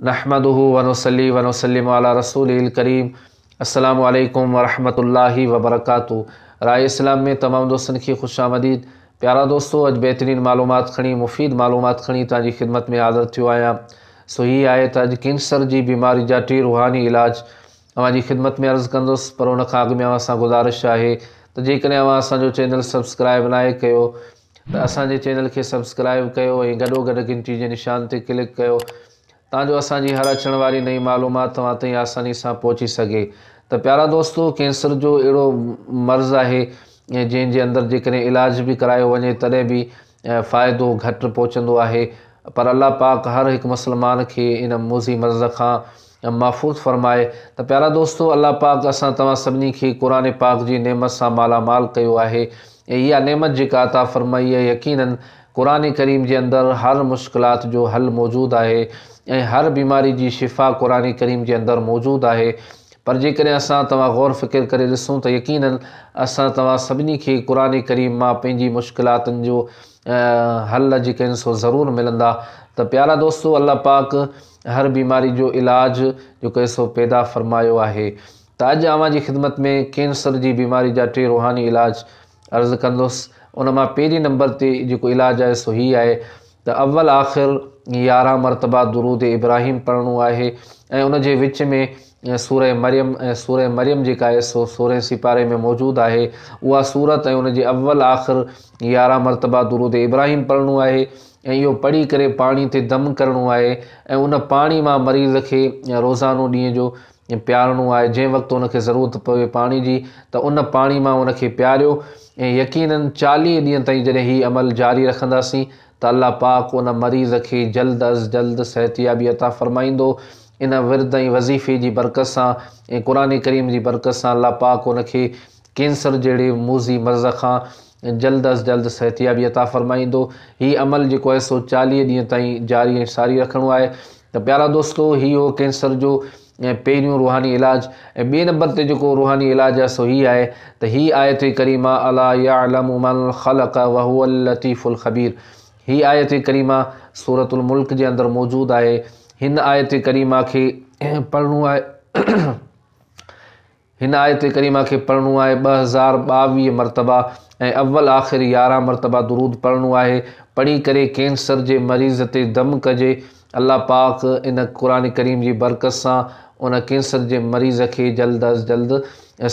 نحمده ونصلي ونسلم علي رسوله الڪريم السلام عليڪم ورحمة الله وبرڪاته راء اسلام ۾ تمام دوستن کي خوش آمديد پيارا دوستو اڄ بهترين معلومات کڻي مفيد معلومات کڻي توهان جي خدمت ۾ حاضر ٿيو آهيان سو هي آهي ته اڄ ڪينسر جي بيماري جا ٽي روحاني علاج اوهان جي خدمت ۾ عرض ڪندس پر ان کان اڳ ۾ اوهان سان گذارش آهي ته جيڪڏهن اوهان اسان جو چينل سبسڪرائب ناهي ڪيو ته اسان جي چينل کي سبسڪرائب ڪيو ۽ گڏوگڏ گھنٽي جي نشان تي ڪلڪ ڪيو تان جو اسان جي هر اچڻ واري نئين معلومات توهان تائين آساني سان پهچي سگھي ته پيارا دوستو ڪينسر جو اهڙو مرض آهي جنهن جي اندر جيڪڏهن علاج به ڪرايو وڃي تڏهن به فائدو گھٽ پهچندو آهي پر الله پاڪ هر هڪ مسلمان کي ان موذي مرض کان ۽ محفوظ فرمائي ته پيارا دوستو! الله پاڪ اسان توهان سڀني کي قرآن پاڪ جي نعمت سان مالا مال ڪيو آهي ۽ اها نعمت جيڪا عطا فرمائي آهي يقيناً قرآن ڪريم جي اندر هر مشڪلات جو حل موجود آهي ۽ هر بيماري جي شفا قرآن ڪريم جي اندر موجود آهي پر جيڪڏهن اسان توهان غور فڪر ڪري ڏسون ته يقيناً اسان توهان سڀني کي قرآن ڪريم مان پنهنجي مشڪلاتن جو حل جيڪا آهن سو ضرور ملندا ته پيارا دوستو! الله پاڪ هر بيماري جو علاج جو ڪي سو پيدا فرمايو آهي ته اڄ اوهان جي خدمت ۾ ڪينسر جي بيماري جا ٽي روحاني علاج عرض ڪندس ان مان پهرين نمبر تي جيڪو علاج آهي سو هي آهي ته اول آخر يارهن مرتبه درود ابراهيم پڙهڻو آهي ۽ ان جي وچ ۾ ۽ سورة مريم ۽ سورة مريم جيڪا ايڪ سؤ سورهين سيپاري ۾ موجود آهي اها سورت ۽ ان جي اول آخر يارهن مرتبه درود ابراهيم پڙهڻو آهي ۽ اهو پڙهي ڪري پاڻي تي دم ڪرڻو آهي ۽ ان پاڻي مان مريض کي روزانو ڏينهن جو پيارڻو آهي جنهن وقت ان کي ضرورت پوي پاڻي جي ته ان پاڻي مان ان کي پياريو ۽ يقينن چاليهه ڏينهن تائين جڏهن هي عمل جاري رکنداسين ته الله پاڪ ان مريض کي جلد از جلد صحتيابي عطا فرمائيندو ان ورد ۽ وظيفي جي برڪت سان ۽ قرآن ڪريم جي برڪت سان الله پاڪ ان کي ڪينسر جهڙي موذي مرض کان جلد از جلد صحتيابي عطا فرمائيندو. هي عمل جيڪو آهي سو چاليهه ڏينهن تائين جاري ۽ ساري رکڻو آهي. ته پيارا دوستو هي هو ڪينسر جو پهريون روحاني علاج ۽ ٻئي نمبر تي جيڪو روحاني علاج آهي سو هي آهي ته هي آيت ڪريمه الا يعلم من خلق وهو اللطيف الخبير هي آيت ڪريمه سورة الملڪ جي اندر موجود آهي. هن آيت ڪريمه کي پڙهڻو آهي هن آيت ڪريمه کي پڙهڻو آهي ٻه هزار ٻاويهه مرتبه ۽ اول آخر يارهن مرتبه درود پڙهڻو آهي. پڙهي ڪري ڪينسر جي مريض تي دم ڪجي الله پاڪ ان قرآن ڪريم جي برڪت سان ان ڪينسر جي مريض کي جلد از جلد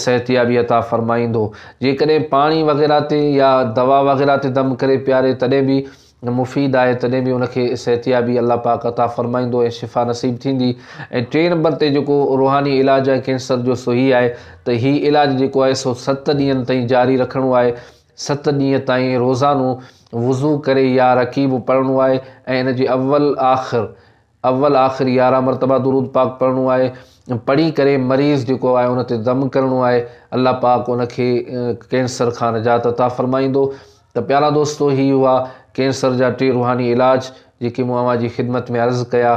صحتيابي عطا فرمائيندو جيڪڏهن پاڻي وغيره تي يا دوا وغيره تي دم ڪري پياري تڏهن به مفيد آهي تڏهن به ان کي صحتيابي الله پاڪ عطا فرمائيندو ۽ شفا نصيب ٿيندي ۽ ٽئين نمبر تي جيڪو روحاني علاج آهي ڪينسر جو سو هي آهي ته هي علاج جيڪو آهي سو ست ڏينهن تائين جاري رکڻو آهي ست ڏينهن تائين روزانو وضو ڪري يا رڪيب پڙهڻو آهي ۽ ان جي اول آخر اول آخر يارهن مرتبه درود پاڪ پڙهڻو آهي پڙهي ڪري مريض جيڪو آهي ان تي دم ڪرڻو آهي الله پاڪ ان کي ڪينسر کان نجات عطا فرمائيندو ته پيارا دوستو هي هئا ڪينسر جا ٽي روحاني علاج جيڪي مون اوهان جي خدمت ۾ عرض ڪيا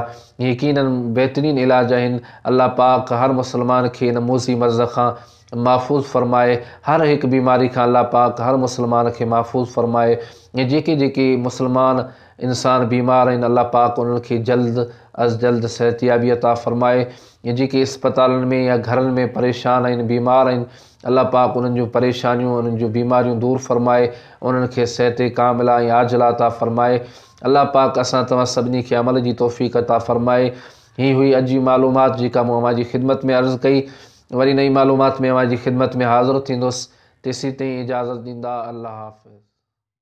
يقينن بهترين علاج آهن الله پاڪ هر مسلمان کي ان موذي مرض کان محفوظ فرمائي هر هڪ بيماري کان الله پاڪ هر مسلمان کي محفوظ فرمائي ۽ جيڪي جيڪي مسلمان انسان بيمار آهن الله پاڪ انهن کي جلد از جلد صحتيابي عطا فرمائي ۽ جيڪي اسپتالن ۾ يا گهرن ۾ پريشان آهن بيمار آهن الله پاڪ انهن جون پريشانيون انهن جون بيماريون دور فرمائي انهن کي صحت ڪاملا ۽ عاجلا عطا فرمائي الله پاڪ اسان توهان سڀني کي عمل جي توفيق عطا فرمائي هي هئي اڄ جي معلومات جيڪا مون اوهان جي خدمت ۾ عرض ڪئي وري نئين معلومات ۾ اوهان جي خدمت ۾ حاضر ٿيندس تيسين تائين اجازت ڏيندا الله حافظ.